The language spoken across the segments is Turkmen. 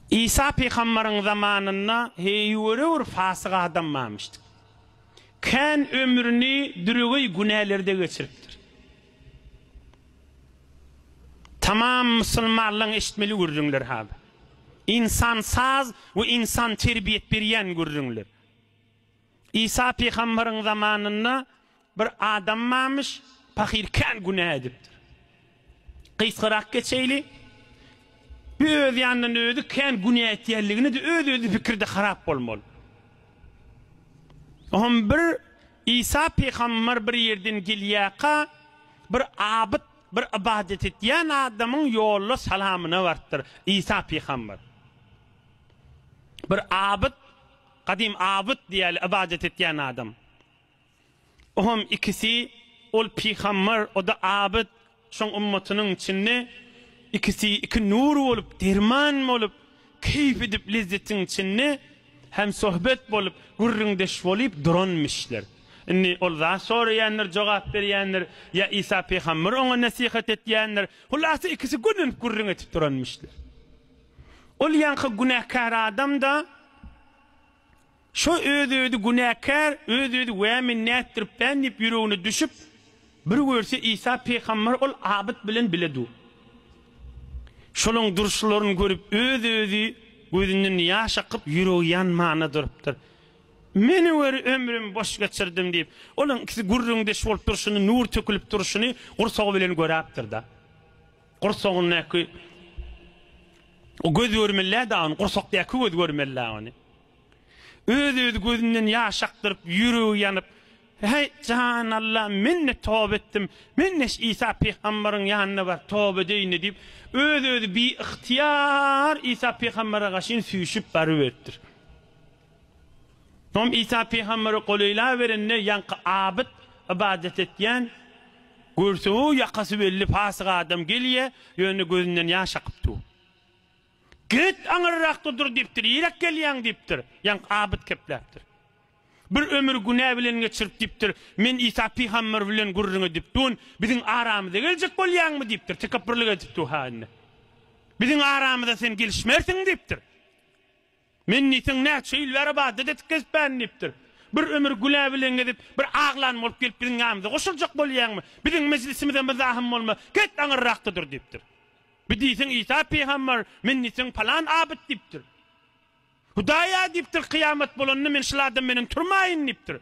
Isa pygambaryň zamanynda heýwere bir fasyk adam barmyşdy. Kän ömrüni düregeý günälerde geçiripdir. Tamam musulmanlaň eşitmeli gürrüňler hada. Ynsan saz we ynsan terbiýet berýän gürrüňler. Isa pygambaryň zamanynda bir adam barmyş, pahyr kän günä edipdir. Gysgarak geçeýli, bu öz ýanyndan özi kän günä etýänligini-de öz-özi pikirde harap bolmaly. Oňam bir Isa pygambar bir ýerden gelýärka, bir abyt, bir ybadat etýän adamyň ýolda salamyna barypdyr. Isa pygambar bir abyt, Gadym Abyt diýeli ybadat etýän adam. Ohm ikisi ol pygambar oda Abyt şoň ymmatynyň içinde ikisi iki nur bolup derman bolup keýp edip lezzetiň içinde hem sohbet bolup gürrüňdeş bolyp duranmyşlar. Indi ol zat soraýandyr jogap berýändir ýa Isa pygambar oňa nesihat etýändir. Hulasa ikisi gürlenip gürrüň etip duranmyşlar. Ol ýaňky günäkär adam-da şo öz-özi günäkär, öz-özi wä men nätdiripdän diýip ýüregine düşüp, bir görse Isa pygamber ol abyt bilen bile dur. Şolaryň durşlaryny görüp öz-özi gözünden ýaş akyp ýüregi ýanmana durupdyr. Meni gör ömrüm boş geçirdim diýip, olaryň ikisi gürrüňdeş bolup durşuny, nur tökülip durşuny gursagy bilen göräpdir-da. Gursagyndaky göz görmeli-dä ony, gursakdaky göz görmeli-dä ony. Öz-özi gözünden ýaş akdyryp, ýüregi ýanyp, Häý, jan Alla, men-de toba etdim, men-de şu Isa pygambaryň ýanyna baryp, toba edeýin-de diýip, öz-özi biygtyýar Isa pygambara gaşyn süýşüp baryberipdir. Soň Isa pygambere golaýlaberende, ýaňky abyt, ybadat etýän, görse-ow, ýakasy belli pasyk adam gelýär, ýöne gözünden ýaş akyp dur. Git, aňyrrakda dur diýipdir, ýiräk gelýäň diýipdir. Ýaňky abyt kepläpdir. Bir ömür günä bilen geçirip diýipdir, Men Isa pygamber bilen gürrüň edip duryn, biziň aramyza geljek bolýaňmy diýipdir, tekepbirlik edip dur-ha indi. Biziň aramyza sen gelişmersiň diýipdir. Men diýseň näçe ýyl bäri badda detik gezipbärin diýipdir. Bir ömür gülä bilen gezip, bir aglan bolup gelip biziň ýanymyza goşuljak bolýaňmy? Biziň mejlisimize myzahyň bolma, get aňyrrakda dur diýipdir. Bir diýseň Isa pygamber, men diýseň palan abyt diýipdir. Hudaý-a diýipdir, kyýamat bolanda men şul adam menen turmaýyn diýipdir.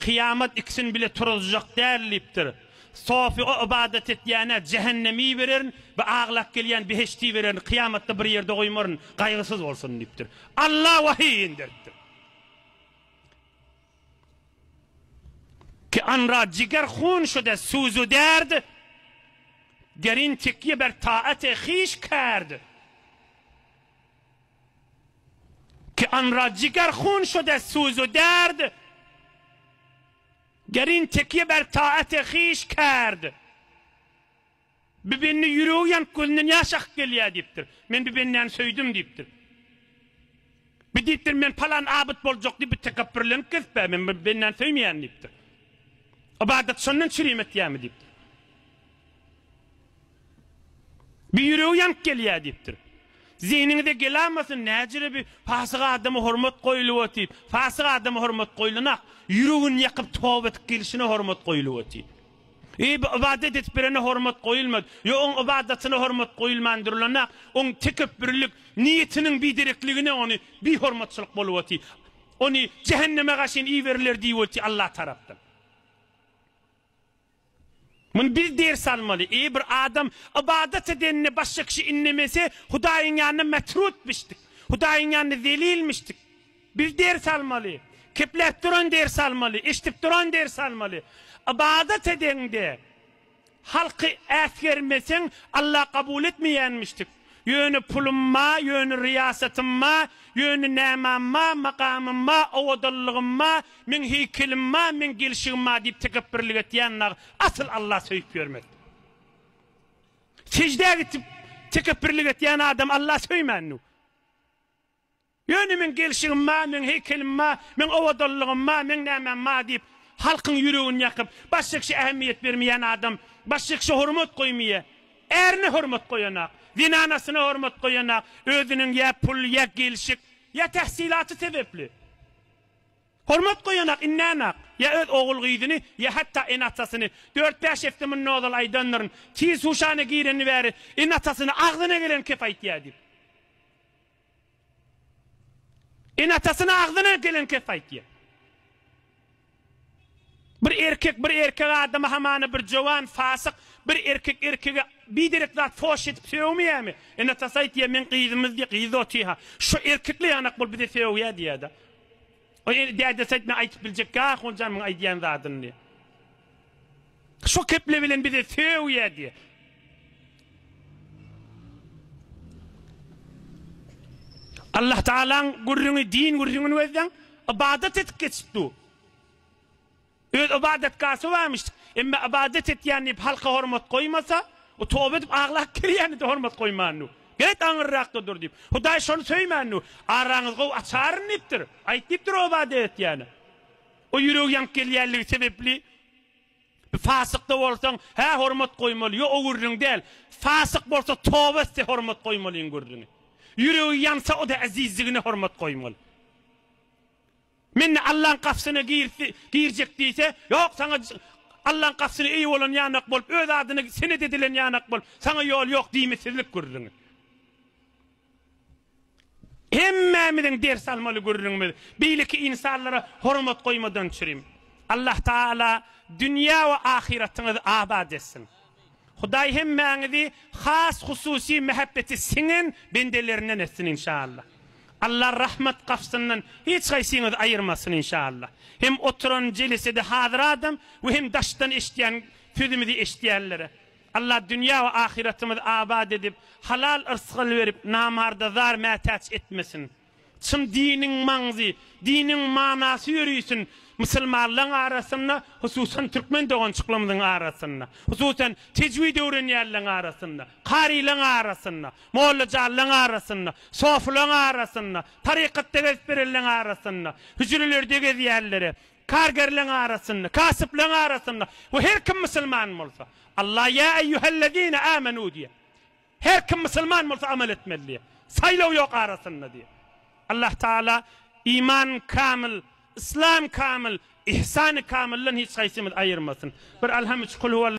Kyýamat ikisini bile turuzjak däl diýipdir. Sofyga ybadat etýäne jähennemi bererin we aglap gelýän behişti bererin, kyýamatda bir ýerde goýmaryn, gaýgysyz bolsun diýipdir. Alla wahyý inderipdir. Ki an ra jiger hun şude suzu derd, derin tekýe ber taate hiş kerd. Ki anra jiger hun şode suzu derd, Gerin tekye ber taate hiş kerd. Bir bende ýüregi ýanyp gözünden ýaş akyp gelýär diýipdir. Men bir bendäni söýdüm diýipdir. Bir diýipdir men palan abyt boljak diýip bir tekepbürlenip gezipä men bir bendäni söýmeýärin diýipdir. Ybadat şondan çürim etýärmi diýipdir. Bir ýüregi ýanyp gelýär diýipdir. Zehniňize gelamasyn, näcele bir pasyk adama hormat goýulyp otyp, pasyk adama hormat goýulanok, ýüregini ýakyp toba edip gelişine hormat goýulyp otyp. Eý bir ybadat edip birine hormat goýulmaz, ýa oň ybadatyna hormat goýulman durlanok, oň tekepbürlik niýetiniň biderekligine ony bihormatçylyk bolup oty, ony jähenneme gaşyn iberiler diýip oty Allah tarapdan. Muny biz ders almaly. Eýe bir adam ybadat edenine başga kişi innemese Hudaýyň ýanynda metrutmyşdyk. Hudaýyň ýanynda zelilmişdik. Biz ders almaly. Kepläp duran ders almaly. Eşdip duran ders almaly. Ybadat edeňde halky äsgermeseň Alla kabul etmeýänmişdik. Ýöne pulum ma, ýöne ryýasatym ma, ýöne nämam ma, makamym ma, owadallygym ma, meň heýkelim ma, meň gelşigim ma diýip tekepbirlik etýän nag asyl Alla söýüp ýörmez. Seždä gitip tekepbirlik etýän adam Alla söýmännu. Ýöne meň gelşigim bar, meň heýkelim bar, meň owadanlygym bar, meň nämäm bar diýip, halkyň ýüregini ýakyp, başykşa ähmiýet bermeýän adam, başykşa hormat goýmaýar. Ärine hormat goýanak, zenanasyna hormat goýanak, özüniň ýa pul, ýa gelşik, ýa tähsilaty sebäpli hormat goýanak, indänak, ýa öz ogul-gyzyny, ýa hatda ene-atasyny. Dört-bäş hepde mundan ozal aýdandyryn, Tiz huşana gireni bäri ene-atasyna agzyna gelen kep aýtýar diýip. Ene-atasyna agzyna gelen kes aýtýar. Bir erkek bir erkek adama hamana bir jowan fasyk bir erkek erkege biderek zat foş edip sögmeýämi? Ene-atasy aýtýar meň gyzymyz diýýär, gyzy otyha. Şo erkekle ýanak bol bize sögýä diýýär-de. Dädesi aýtmaz aýtyp biljekki ahunjan muň aýdýan zadyny diýýär. Şo keple bilen bize söw ýa diýe. Allah Taalaň gürrüňi din gürrüňini gözleň, ybadat edip geçipdi. Öz ybadatgasy barmyş. Emma ybadat etýän diýip halka hormat goýmasa, o toba edip aglap kirýäni de hormat goýmandy. Get aňyrrakda dur diýip. Hudaý şony söýmändi. Araňyz gowy açaryn diýipdir. Aýt diýipdir o ybadat etýäni. O ýüregi ýanyp gelýänligi sebepli bir fasykda bolsaň, hä hormat goýmaly, ýo o gürrüň däl. Fasyk bolsa toba etse hormat goýmalyň gürrüňi. Ýüregi ýansa o-da äzizligine hormat goýmaly. Mende Allaň gapysyna girse, girjek diýse, ýok saňa Allaň gapysyna eýe bolan ýanak bolup, öz adyna senet edilen ýanak bolup, saňa ýol ýok diýmesizlik gürrüňi. Hemmämiziň ders almaly gürrüňimiz, beýleki ynsanlara hormat goýmadan çürim. Allah Taala dünýä we ahyratyňyzy abat etsin. Hudaý hemmäňizi has hususy mähebbeti siňen bendelerinden etsin inşallah. Allah rahmat gapsyndan hiç haýsyňyzy aýyrmasyn inşallah. Hem oturan jelesede hazyr adam we hem daşdan eşidýän sözümizi eşidýänlere. Allah dünýä we ahyretimizi abat edip, halal yrsgal berip, namarda zar mätäç etmesin. Çyn diniň maňzy, diniň manasy ýörisin musulmanlaň arasynda, hususan türkmen dogançyklarymyzyň arasynda, hususan tejwid öwrenýänleň arasynda, karylaň arasynda, mollajanlaň arasynda, sofylaň arasynda, tarykatda gezip berenleň arasynda, hüjrelerde gezýänlere, Kargerleň arasynda, kasypleň arasynda we her kim musulman bolsa. Allah ýa eýýuhellezine âmenû diýýär. Her kim musulman bolsa amal etmeli diýýär. Saýlaw ýok arasynda diýýär. Allah Taala iman kamyl, yslam kamyl, ihsany kamyldan hiç haýsymyzy aýyrmasyn. Bir Alham üç Kul huwal.